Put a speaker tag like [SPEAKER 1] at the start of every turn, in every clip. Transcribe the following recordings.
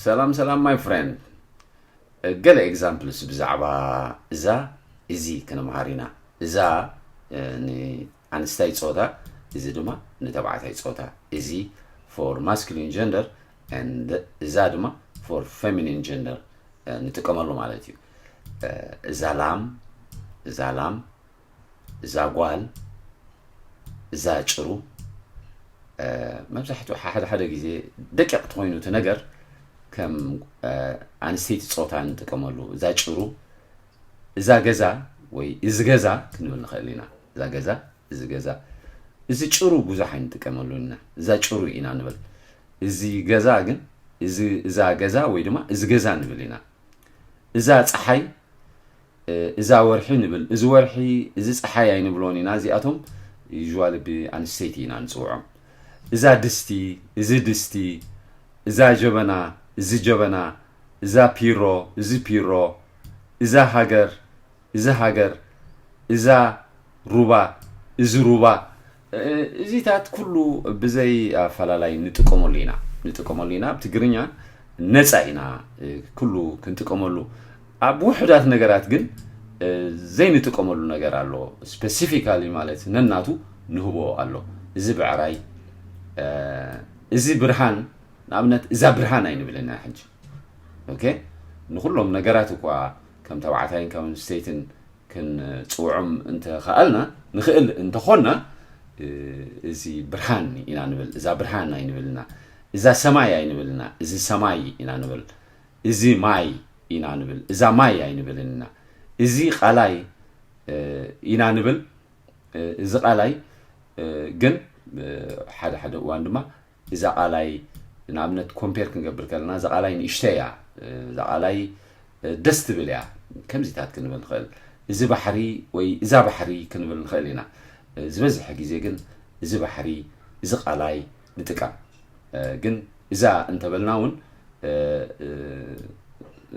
[SPEAKER 1] ሰላም ሰላም ማይ ፍሬንድ ገለ ኤግዛምፕልስ ብዛዕባ እዛ እዚ ክንምሃር ኢና እዛ ንኣንስታይ ፆታ እዚ ድማ ንተባዕታይ ፆታ እዚ ፎር ማስኩሊን ጀንደር እዛ ድማ ፎር ፌሚኒን ጀንደር ንጥቀመሉ ማለት እዩ እዛ ላም እዛ ላም እዛ ጓል እዛ ጭሩ መብዛሕትኡ ሓደ ሓደ ግዜ ደቂቕ ትኮይኑ እቲ ነገር ከም ኣንስተይቲ ፆታ ንጥቀመሉ እዛ ጭሩ እዛ ገዛ ወይ እዚ ገዛ ክንብል ንኽእል ኢና እዛ ገዛ እዚ ገዛ እዚ ጭሩ ብዙሕ ኣይንጥቀመሉ ኢና እዛ ጭሩ ኢና ንብል እዚ ገዛ ግን እዛ ገዛ ወይ ድማ እዚ ገዛ ንብል ኢና እዛ ፀሓይ እዛ ወርሒ ንብል እዚ ወርሒ እዚ ጸሓይ ኣይንብሎን ኢና እዚኣቶም usually ብኣንስተይቲ ኢና ንጽውዖም እዛ ድስቲ እዚ ድስቲ እዛ ጀበና እዚ ጀበና እዛ ፒሮ እዚ ፒሮ እዛ ሃገር እዚ ሃገር እዛ ሩባ እዚ ሩባ እዚታት ኩሉ ብዘይ ኣፈላላይ ንጥቀመሉ ኢና ንጥቀመሉ ኢና ኣብ ትግርኛ ነፃ ኢና ኩሉ ክንጥቀመሉ ኣብ ውሕዳት ነገራት ግን ዘይንጥቀመሉ ነገር ኣሎ ስፔሲፊካሊ ማለት ነናቱ ንህቦ ኣሎ እዚ ብዕራይ እዚ ብርሃን ንኣብነት እዛ ብርሃን ኣይንብልን ሕጂ ኦኬ ንኹሎም ነገራት እኳ ከም ተባዕታይን ከም ኣንስተይትን ክንፅውዖም እንተኸኣልና ንኽእል እንተኾንና እዚ ብርሃን ኢና ንብል እዛ ብርሃን ኣይንብልና እዛ ሰማይ ኣይንብልና እዚ ሰማይ ኢና ንብል እዚ ማይ ኢና ንብል እዛ ማይ ኣይንብልን ኢና እዚ ቃላይ ኢና ንብል እዚ ቃላይ ግን ሓደ ሓደ እዋን ድማ እዛ ቃላይ ንኣብነት ኮምፔር ክንገብር ከለና እዛ ቃላይ ንእሽተይ እያ እዛ ቃላይ ደስ ትብል እያ ከምዚታት ክንብል ንኽእል እዚ ባሕሪ ወይ እዛ ባሕሪ ክንብል ንኽእል ኢና ዝበዝሐ ግዜ ግን እዚ ባሕሪ እዚ ቃላይ ንጥቀም ግን እዛ እንተበልና እውን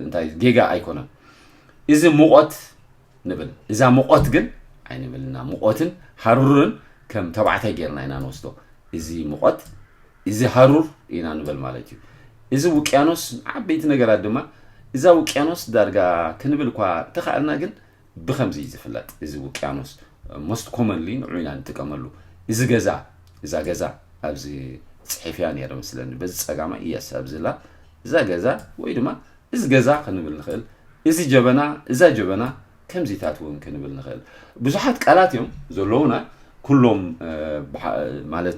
[SPEAKER 1] እንታይ ጌጋ ኣይኮነን እዚ ሙቐት ንብል እዛ ሙቆት ግን ኣይንብል እና ሙቆትን ሃሩርን ከም ተባዕታይ ጌርና ኢና ንወስዶ እዚ ሙቆት እዚ ሃሩር ኢና ንብል ማለት እዩ እዚ ውቅያኖስ ዓበይቲ ነገራት ድማ እዛ ውቅያኖስ ዳርጋ ክንብል እኳ ተኻእልና ግን ብከምዚ እዩ ዝፍለጥ እዚ ውቅያኖስ ሞስት ኮመንሊ ንዑ ኢና ንጥቀመሉ እዚ ገዛ እዛ ገዛ ኣብዚ ፅሒፍያ ነይረ ምስለኒ በዚ ፀጋማ እየስ ኣብዚላ እዛ ገዛ ወይ ድማ እዚ ገዛ ክንብል ንኽእል፣ እዚ ጀበና፣ እዛ ጀበና፣ ከምዚታት እውን ክንብል ንኽእል። ብዙሓት ቃላት እዮም ዘለዉና፣ ኩሎም ማለት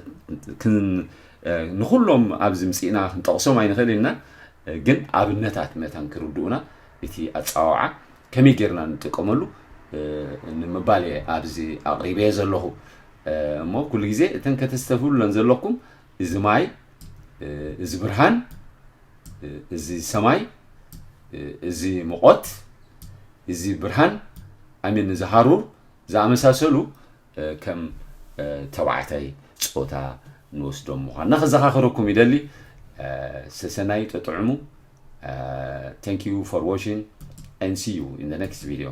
[SPEAKER 1] ንኹሎም ኣብዚ ምጺእና ክንጠቕሶም ኣይንኽእል ኢና፣ ግን ኣብነታት መታን ክርድኡና እቲ ኣጻዋውዓ ከመይ ጌርና ንጥቀመሉ ንምባል እየ ኣብዚ ኣቕሪበየ ዘለኹ እሞ ኩሉ ግዜ እተን ከተስተፍሉለን ዘለኩም እዚ ማይ እዚ ብርሃን እዚ ሰማይ እዚ ሙቆት እዚ ብርሃን ኣሚን እዚ ሃሩር ዝኣመሳሰሉ ከም ተባዕታይ ጾታ ንወስዶም ምዃንና ክዘኻኽረኩም ይደሊ ሰሰናዩ ጠጥዕሙ ተንክ ዩ ፎር ዋቺንግ and see you in the next video